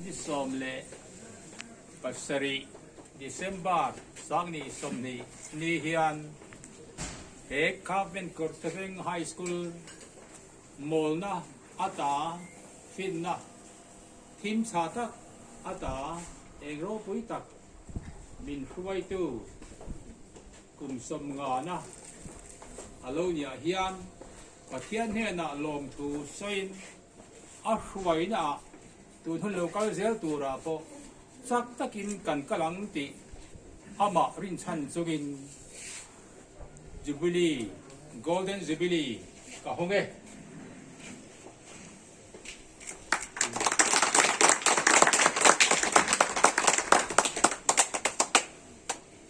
Ni sawm leh pasarih, December, Sangni sawmhnih ni hian he Government Kawrthlaveng High School mawlna ata hrinna thim chha tak ata eng ropui tak min hruaitu kum sawm ngana a lo ni ah hian Pathian hnenah lawmthu sawiin A hruainah tun hun lo kal zel turah pawh chak takin kan kal ang tih amah rinchhan chungin Jubilee, Golden Jubilee ka hawng e.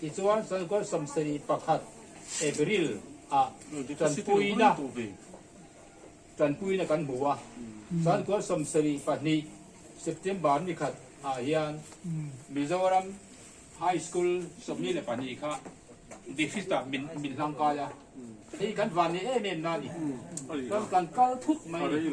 Tichuan, Chawlhkawlh sawmsarih pakhat April ah tanpuina tanpuina kan hmu a, Chawlhkawlh sawmsarih pahnih September ni khat ah hian Mizoram High School sawmli leh pahnih kha District ah min min hlang kai a, hei kan van ni em em na ni, kan kan kal thut mai ni.